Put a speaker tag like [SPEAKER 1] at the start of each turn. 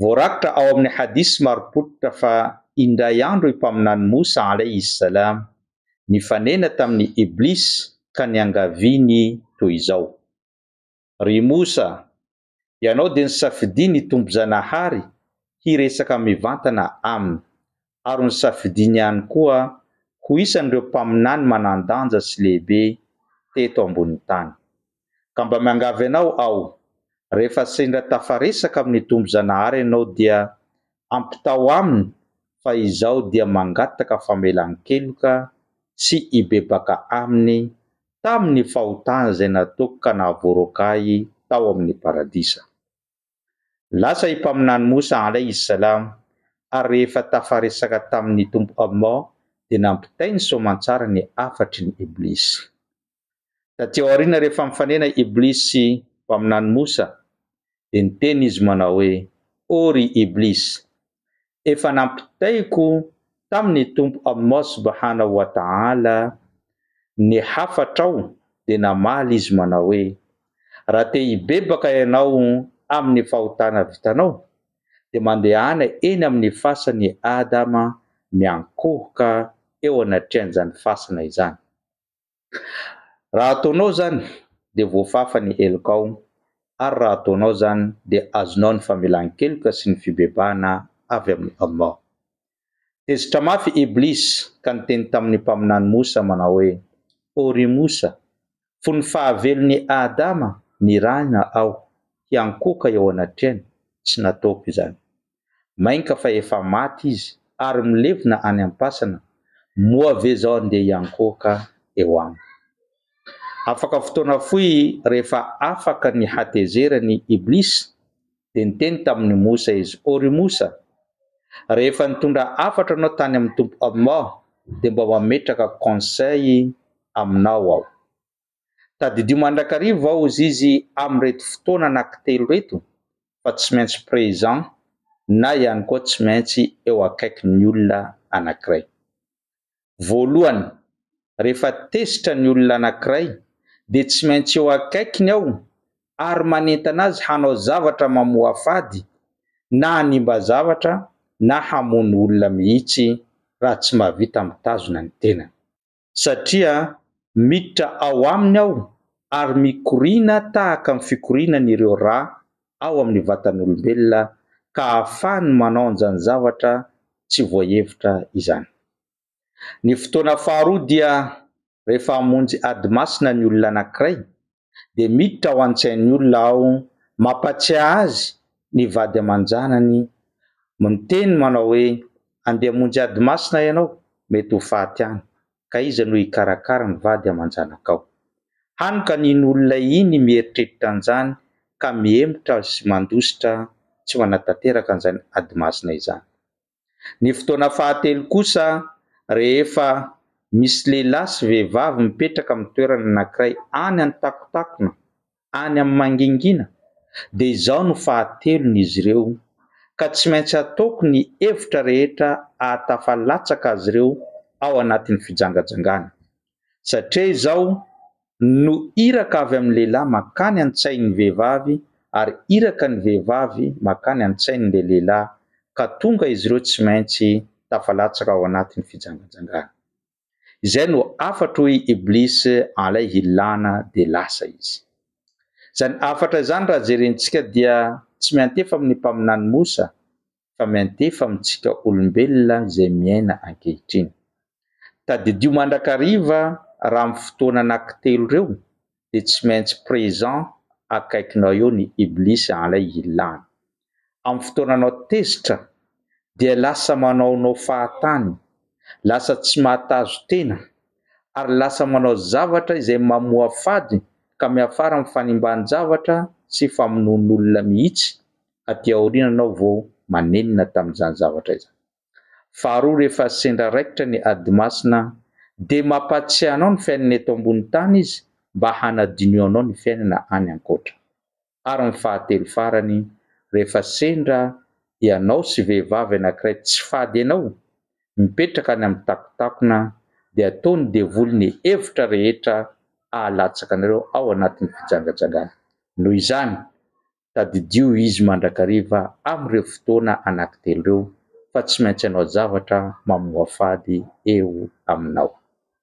[SPEAKER 1] Voarakitra ao amin'ny hadith marim-pototra fa indray andro i Mpaminany Moussa alayhi s-salam nifanena tamin'i Iblis ka niangaviany toy izao, Ry Moussa! Ianao dia nisafidia ny Tompon-janahary hiresaka mivantana aminy. ary nosafidiany ihany koa ho isan'ireo mpaminany manan-danja sy lehibe teto ambonin'ny tany. Ka mba miangavy anao aho, rehefa sendra tafaresaka amin'ny Tompo Zanahary ianao dia ampitao aminy fa izaho dia mangataka famelan-keloka sy hibebaka aminy tamin'ny fahotana izay nataoko ka nahavoaroaka ahy tao amin'ny paradisa. Lasa i Mpaminany Moussa alayhi salam ary rehefa tafaresaka tamin' ny Tompo Allah dia nampitainy soamantsara ny hafatry ny Iblisy. Taty aoriana rehefa mifanena Iblisy sy Mpaminany Moussa dia niteny izy manao hoe, Oh ry Iblisy! efa nampitaiko tamin' ny Tompo Allah Subhanahu wa Ta'ala ny hafatrao dia namaly izy manao hoe, Raha te hibebaka ianao amin' ny fahotana vitanao dia mandehana eny amin' ny fasan' i Adama miankohoka eo anatrehan' izany fasana izany. Raha ataonao izany dia voafafa ny helokao ary raha ataonao izany dia azonao ny famelan-keloka sy ny fibebahana avy amin'i Allah. Tezitra mafy Iblis ka niteny tamin'ny Mpaminany Moussa manao hoe, O ry Moussa! Fony fahavelon'i Adama nirahina aho hiankohoka eo anatrehany, tsy nataoko izany. Mainka fa efa maty izy ary milevina any am-pasana, moa ve zao andeha hiankohoka eo aminy. Afaka fotoana fohy rehefa afaka ny hatezerany Iblis dia niteny tamin'i Moussa izy, O ry Moussa! Rehefa nitondra hafatra anao tany amin'ny Tompo Allah dia mba mametraka conseil aminao aho. Tadidio mandrakariva aho hozy izy amin'ireto fotoana anankitelo ireto fa tsy maintsy présent na ihany koa tsy maintsy eo akaikin'ny olona anankiray. Voalohany, rehefa tezitra ny olona anankiray dia tsy maintsy eo akaikiny aho ary manentana azy hanao zavatra mamoafady na hanimba zavatra na hamono olona mihitsy raha tsy mahavita mitazona ny tenany. satria miditra ao aminy ao ary mikoriana tahaka ny fikorianan' ireo ra ao amin' ny vatan' olombelona ka ahafahany manao an'izany zavatra tsy voahevitra izany. Ny fotoana faharoa dia rehefa hamonjy ady masina ny olona anankiray dia miditra ao an-tsain'ny olona aho mampatsiahy azy ny vady aman-janany miteny manao hoe andeha hamonjy ady masina ianao mety ho faty any ka iza no hikarakara ny vady aman-janakao? Hany ka iny olona iny mieritreritra an'izany ka mihemotra sy mandositra tsy manatanteraka an'izany ady masina izany. Ny fotoana fahatelo kosa rehefa misy lehilahy sy vehivavy mipetraka amin'ny toerana anankiray any an-takontakona, any amin'ny mangingina, dia izao no fahatelon'izy ireo, ka tsy maintsy ataoko ny hevitra rehetra ahatafa latsaka azy ireo ao anatin'ny fijangajangana. satria izao no iraka avy amin'ny lehilahy mankany an-tsain'ny vehivavy ary iraka ny vehivavy mankany an-tsain'ilay lehilahy ka tonga izy ireo tsy maintsy tafalatsaka ao anatin'ny fijanganjangana. Izay no hafatra hoy Iblis an'ilay hilana dia lasa izy. Izany hafatra izany raha jerentsika dia tsy miantefa amin'ny mpaminany Moussa fa miantefa amintsika olombelona izay miaina ankehitriny. Tadidio mandrakariva raha amin'ny fotoana anankitelo ireo dia tsy maintsy présent akaikinao eo ny Iblis anlay hilany. Amin'ny fotoana anao tezitra dia lasa manaonao fahatany, lasa tsy mahatazo tena ary lasa manao zavatra izay mamoafady ka miafara amin'ny fanimban-javatra sy famonoan'olona mihitsy aty aoriana anao vao manenina tamin'izany zavatra izany. Faharoa rehefa sendra raikitra ny ady masina dia mampatsiahy anao ny fiainana eto ambony tany izy mba hanadinio anao ny fiainana any ankoatra. Ary ny fahatelo farany rehefa sendra ianao sy vehivavy anankiray tsy fady anao mipetraka any amin'ny takontakona dia atao ny devoly ny hevitra rehetra ahalatsaka anareo ao anatin'ny fijangajangana. Noho izany tadidio izy mandrakariva amin'ireo fotoana anankitelo ireo fa tsy maintsy hanao zavatra mamoafady eo aminao.